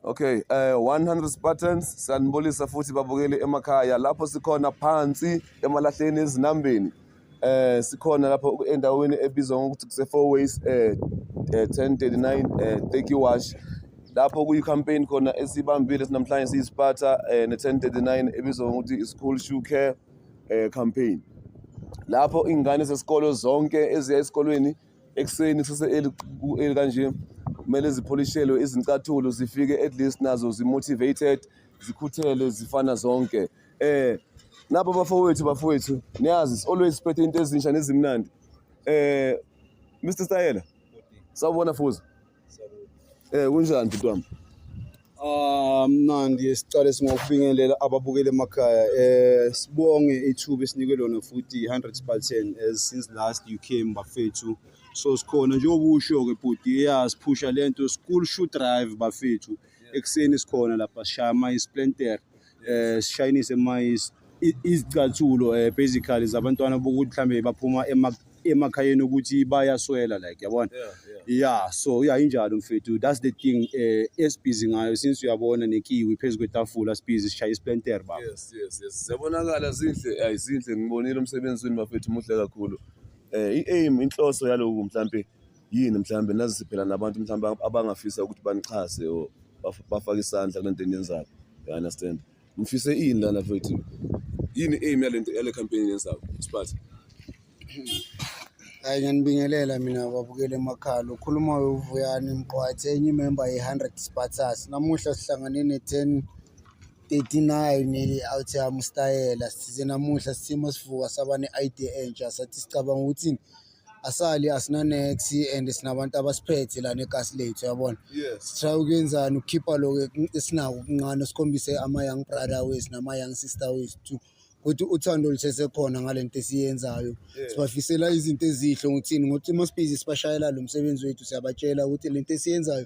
Okay, eh 100 Spartans sanibulisa futhi babukeli emakhaya lapho sikhona phansi emalahleni ezinambeni. Eh sikhona lapho endaweni ebizwa ngokuthi kuse four ways eh 1039 eh, eh Teki Wash lapho kuyi campaign khona esibambile sinamhlanje siyi Sparta eh ne 1039 ebizwa ngokuthi i school shoe care eh campaign. Lapho ingane zesikolo zonke eziya esikolweni ekuseni kusese eli kanje kumele zipholishelwe izincathulo zifike at least nazo zimotivated zikhuthele zifana zonke eh nabo bafowethu bafowethu niyazi always siphethe into ezinsha nezimnandi eh Mr Sayela sawubona fuza Eh kunjani bhuti wami? Ah mnandi sicale singokubingelela ababukeli emakhaya eh sibonge ithuba esinike lona futhi 100 Spartan as since last you came bafethu so sikhona njengoba usho ke bhuti yeah siphusha lento school shoe drive bafethu ekuseni sikhona lapha shaya ama isplentere eh sishayinise mayis izicathulo eh basically zabantwana bokuthi mhlambe baphuma ema- emakhayeni ukuthi bayaswela like yabona yeah so yeah injalo mfethu that's the thing eh esibhizi ngayo since uyabona nekiwi phezu kwetafula sibhizi sishaya isplenter baba yes yes yes ziyabonakala zinhle ayi zinhle ngibonile umsebenzi wenu bafethu muhle kakhulu eh i-aim inhloso yaloku mhlampe yini mhlawumbe nazise phela nabantu mhlawumbe abangafisa ukuthi banixhase or bafake isandla kule nto eniyenzayo you understand ngifise ini lana futhi yini aim yale nto yale campaign yenzayo siphathe hayi ngiyanibingelela mina babukele emakhaya lokhuluma wevuyani mqwathi enye imemba ye-hundred spartas namuhla sihlangane ne-ten 39 awuthi amustayela size namuhla sisimo sivuka saba ne-idea entsha sathi sicabanga ukuthi asali asinanex and sinabantu abasiphethe lana egasi lethu yabona sitry ukuyenzani ukukhipha lokho esinako kuncane sikhombise ama-young brother wethu nama-young sister wethu ukuthi uthando lusesekhona ngale nto esiyenzayo sibafisela izinto ezihle ngokuthini ngokuthi uma sibhizi sibashayela lo msebenzi wethu siyabatshela ukuthi le nto esiyenzayo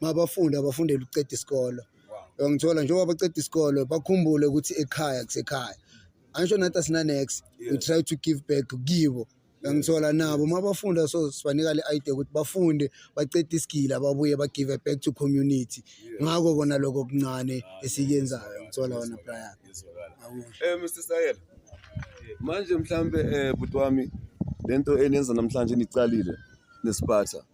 mabafunde abafundele ukuceda isikolo uyangithola njengoba baceda isikolo bakhumbule ukuthi ekhaya kusekhaya angisho nathi asinanex we try to give back kibo uyangithola nabo uma bafunda so sibanika le idea ukuthi bafunde bacede isigila babuye bagive back to community ngako kona lokho okuncane ah, esikuyenzayo ngithola wona brian um eh, mr sayela manje mhlampe um eh, bhuti wami le nto eniyenza namhlanje nicalile nesiphatha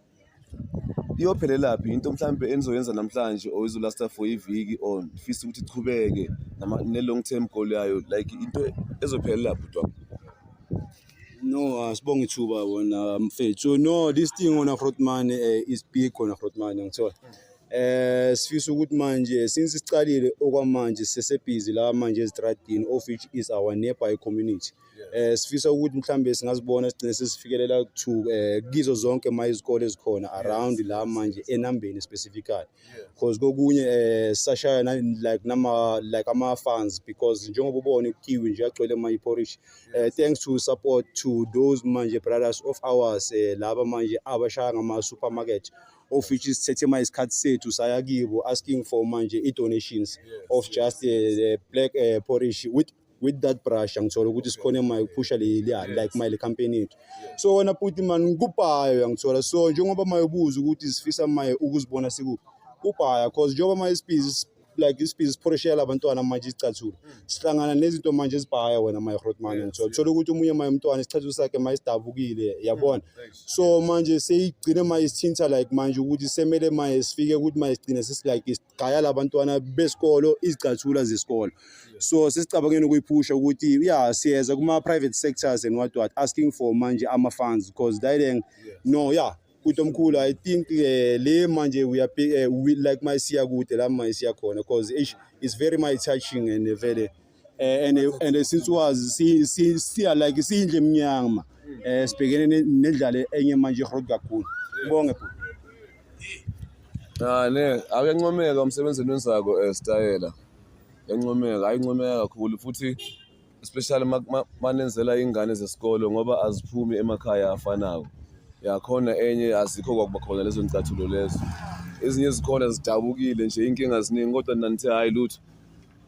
iyophelelaphi into mhlawumbe enizoyenza namhlanje or izolasta for iviki or ndifisa ukuthi ichubeke ne-long term goal yayo like into ezophelela bhuti wami no asibonge ithuba wona mfethu no this thing ona grotman uh, eh, is big ona grotman ngithola eh sifisa ukuthi manje since siqalile okwamanje sesebhizi la manje ezitradini of which is our nearby community eh sifisa ukuthi mhlambe singazibona sigcine sesifikelela to eh kizo zonke ma izikole ezikhona around la manje enambeni specifically because kokunye eh sashaya like nama like ama fans because njengoba ubona ukiwi nje agcwele ma iporish eh thanks to support to those manje brothers of ours eh, laba manje abashaya ngama supermarket of which is sithethe manje isikhathi sethu saya kibo asking for manje i-donations of just uh, black uh, porridge with with that brush angithola ukuthi sikhona emayi kuphusha leliya like mayi le campaign yethu so wena puti mani ngikubhayo yangithola so njengoba maye ubuza ukuthi zifisa maye ukuzibona sikuphi kubhaya cause njengoba maye isibizi like isibizi siphoreshela abantwana manje isicathulo sihlangana nezinto manje ezibhaya wena maye rotman ngithola thola ukuthi omunye maye umntwana isicathulo sakhe maye sidabukile yabona so manje seyigcine maye sithinta like manje ukuthi semele maye sifike ukuthi maye sigcine sisilike gaya labantwana besikolo izicathula zesikolo so sesicabangeni ukuyiphusha ukuthi ya siyeza kuma-private sectors and what what asking for manje ama-funds because dideng no ya kuthi omkhulu i think eh, le manje we are eh, like mayisiya kude la mayisiya khona because it's very my touching and eh, vele eh, and and since was si si si like sindle emnyama eh sibhekene nendlala enye manje road kakhulu ngibonge bhuti Ah ne akencomeka umsebenzini wenzako eh stayela. Encomeka ayincomeka kakhulu futhi especially manenzela ingane zesikolo ngoba aziphumi emakhaya afanayo. Yakhona enye azikho kwakuba khona lezo ncathulo lezo. Ezinye zikhona zidabukile nje inkinga ziningi kodwa nanithe hayi lutho.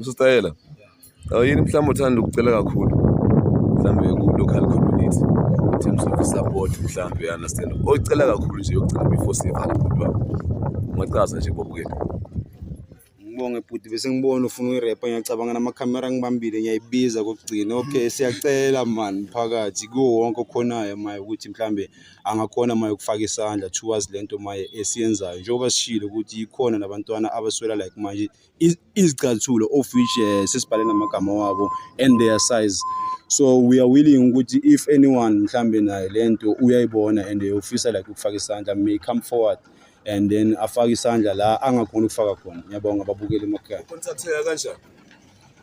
usitayela yini mhlawumbe uthanda ukucela kakhulu mhlawumbe ku-local community in terms of support mhlawumbe you understand oyicela kakhulu nje yokugcina before sivala bhuti wami ungacaza nje bobukele ngibonge bhuti bese ngibona ufuna uyirepa ngiyacabanga namakhamera ngibambile ngiyayibiza kokugcina okay siyacela mani phakathi kuwo wonke okhonayo maye ukuthi mhlambe angakhona maye ukufaka isandla towards lento maye esiyenzayo njengoba sishilo ukuthi yikhona nabantwana abaswela like manje izicathulo of which uh, sesibhale namagama wabo and their size so we are willing ukuthi if anyone mhlambe naye lento uyayibona and ufisa like ukufaka isandla may come forward and then afake isandla la angakhona ukufaka khona ngiyabonga babukeli emakhaya ukontatheka kanjani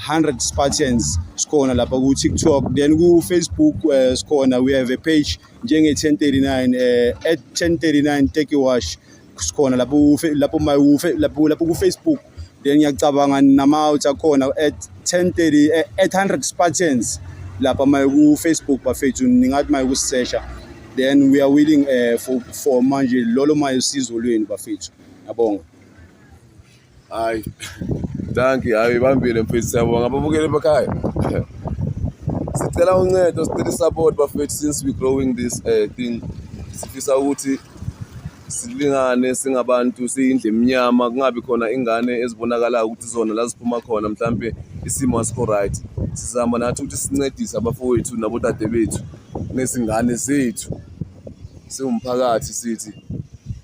100 Spartans sikhona lapha ku TikTok then ku Facebook uh, sikhona we have a page njenge 1039 uh, at 1039 take a wash sikhona lapho lapho my lapho lapho ku Facebook then ngiyacabanga nama out akhona at 1030 eh, at 100 Spartans lapha my ku Facebook bafethu ningathi my kusesha then we are willing uh, for for manje lolo mayo sizo lweni bafethu yabonga Hayi. Danki, hayi ibambile mfethu siyabonga ababukeli emakhaya. Sicela uncedo, sicela support bafethu since we growing this uh, thing. Sifisa ukuthi silingane singabantu siyindle emnyama kungabi khona ingane ezibonakalayo ukuthi zona la ziphuma khona mhlampe isimo asikho right sizama nathi ukuthi sincedise abafowethu nabodade bethu nezingane zethu siwumphakathi sithi